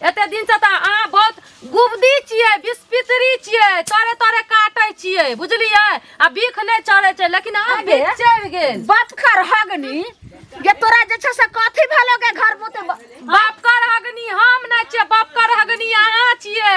एते दिन से तऽ अहाँ बहुत गुबदी छियै बिस्पितरी छियै तोरे तोरे काटै छियै बुझलियै आ बीख नहि चढ़ै छै लेकिन अहाँ अबे। बीख चढ़ि गेल बात कर हगनी जे तोरा जे छै से कथी भेलो के घर मुते बाप कर हगनी हम नहि छियै बाप कर हगनी अहाँ छियै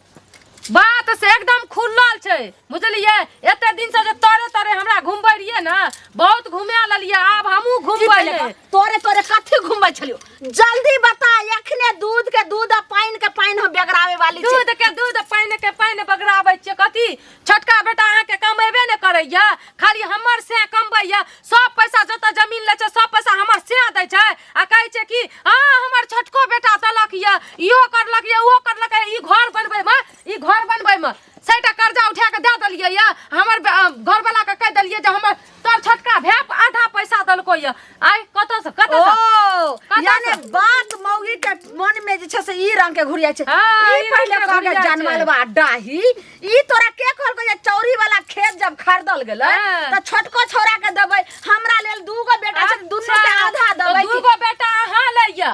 बात से एकदम खुलल छै बुझलियै एते दिन से जे तोरे तोरे हमरा घुमबै रहियै ने बहुत घुमा लेलियै आब हमहूँ की घुमबै पहिले ले। का? तोरे तोरे कथी घुमै छलियो जल्दी बता एखने दूध के दूध आ पानि के पानि हम बेगरावे वाली छी दूध के दूध पानि के पानि बगराबै छियै कथी छोटका बेटा अहाँके कमेबे ने करैया खाली हमर से कमबैया सब पैसा जतऽ जमीन लै छै सब पैसा हमर से दै छै आ कहै छै कि हाँ हमर छोटको बेटा देलक या इहो करलक या उहो करलक या ई घर बनबै मे ई घर बनबै मे सैटा कर्जा उठा के दे देलियै या हमर बे- अ, घरवाला के कह देलियै जे हमर तोर छोटका भैया आधा पैसा दलको ये आय कत से कत ओ से यानी बात मौगी के मन में जे छै से ई रंग के घुरिया छै हाँ, ई ई पहिले रंग के कहल घुरिया छै। जानमलवा डाही ई तोरा के कहल को जे चौरी वाला खेत जब खरीदल गेलै हाँ। त छोटको छोरा के देबै हमरा लेल दूगो बेटा छै दुनू के आधा देबै दू गो बेटा अहाँ लैया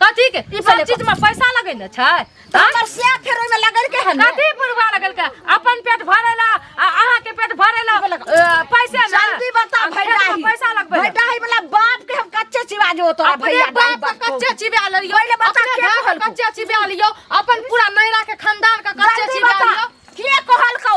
कथी के ई सब पहिले चीज में पैसा लगे न छै त हमर से फेर ओइमे लगल के है ना कथी बुढ़वा लगल के अपन पेट भरेला आ अहाँ के पेट भरेला अ, पैसे ना जल्दी बता आ, पेट में भैडाही पैसा लगबे ना। भैडाही वाला बाप के हम कच्चे चिवा जो तोरा अपने भैया दाई बाप बाप के को। कच्चे चिबा लियो पहिले बता अपने के घर के कहलकौ? कच्चे चिबा लियो अपन पूरा नैरा के खानदान के कच्चे जल्दी चिबा बता लियो के कहलकौ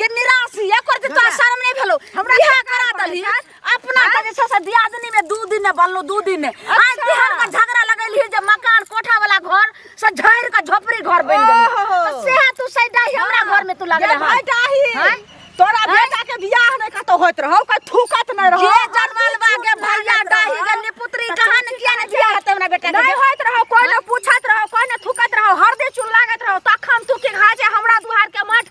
गे निरासी एकर जे तोरा शर्म नहीं भेलो हमरा इहे करा दली अपना के जे छै से दियादनी में दू दिन ने बनलो दू दिन ने आज बिहान का झगड़ा लगैली जे मकान कोठा वाला घर से झड़ के झोपड़ी घर बन गेल ओहो। तो सेहा तू सैडा ही हमरा घर में तू लगे गे भाई डाही हैं? तोरा हैं? बेटा के बियाह नहीं कतो होत रहो कोई थूकत नहीं रहो जे जनमल बा के भैया डाही के निपुत्री कहां ने किया ने दिया हते हमरा बेटा नहीं के होत रहो कोई ने पूछत रहो कोई ने थूकत रहो हरदे चुन लागत रहो तखन तू के घाजे हमरा दुहार के मठ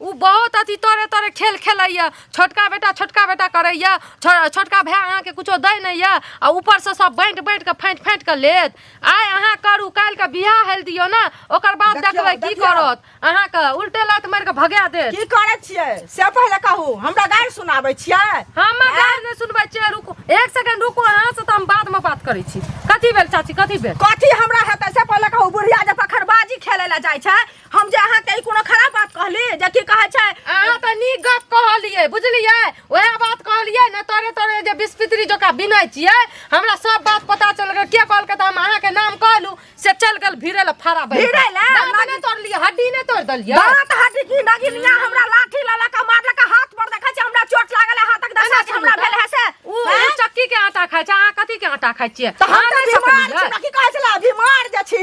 ओ बहुत अथी तोरे तोरे खेल खेलैए छोटका बेटा छोटका बेटा करैए छोटका भाय अहाँके किछो दै नहि यऽ आ ऊपरसँ सब बाँटि बाँटि कऽ फाँटि फाँटि कऽ लेत आइ अहाँ करू काल्हिके बियाह हेल दियौ ने ओकर बाद देखबै की करत अहाँके उल्टे लात मारि कऽ भगा देत की करै छियै से पहिले कहू हमरा गारि सुनाबै छियै हम गारि नहि सुनबै छियै रुकू एक सेकंड रुकू अहाँ से तऽ हम बादमे बात करै छी कथी भेल चाची कथी भेल कथी हमरा हेतै से पहिले कहू बुढ़िया जे पखरबाजी खेलै लए जाइ छै हम जे अहाँ के ई कोनो खराब बात कहली जे की कहै छै अहाँ तऽ नीक गप कहलियै बुझलियै उएह बात कहलियै ने तोरे तोरे जे बिस्पित्री जोका बिनै छियै हमरा सब बात पता चल गेल के कहलकै तऽ हम अहाँके नाम कहलू से चल गेल भिड़े लए फरा बैठ भिड़ै लए? दाँत नहि तोड़लियै हड्डी नहि तोड़ देलियै दांत हड्डी की नगिनिया हमरा लाठी लला का मारला का हाथ पर देखै छै हमरा चोट लागल है हाथक दशा जे हमरा भेल है से उ उ हैं? चक्की के आटा खाइ छै अहाँ कथी के आटा खाइ छियै तऽ हम अहाँ तऽ नहि बीमार सकलियै? छी हमरा की कहै छला बीमार जे छी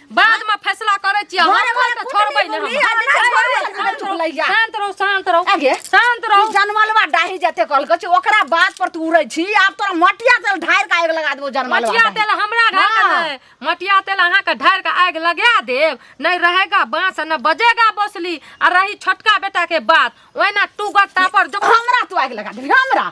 बाद में फैसला करे छी हम घरे घरे त छोड़बै कुटुम्ब ने हम। बुढ़ी आदमी घरे घरे घर चुप लैया। शांत रहू शांत रहू आगे। शांत रहू जनमलवा डाही जते कल के ओकरा बात पर तू उड़ै छी आब तोरा मटिया तेल ढार के आग लगा देबो जनमलवा मटिया डाही। तेल हमरा ढार के हाँ। नहीं मटिया तेल अहाँ के ढार के आग लगा देब नहीं रहेगा बांस न बजेगा बसली आ रही छोटका बेटा के बात ओहिना टूगर टापर जो हमरा तू आग लगा देबी हमरा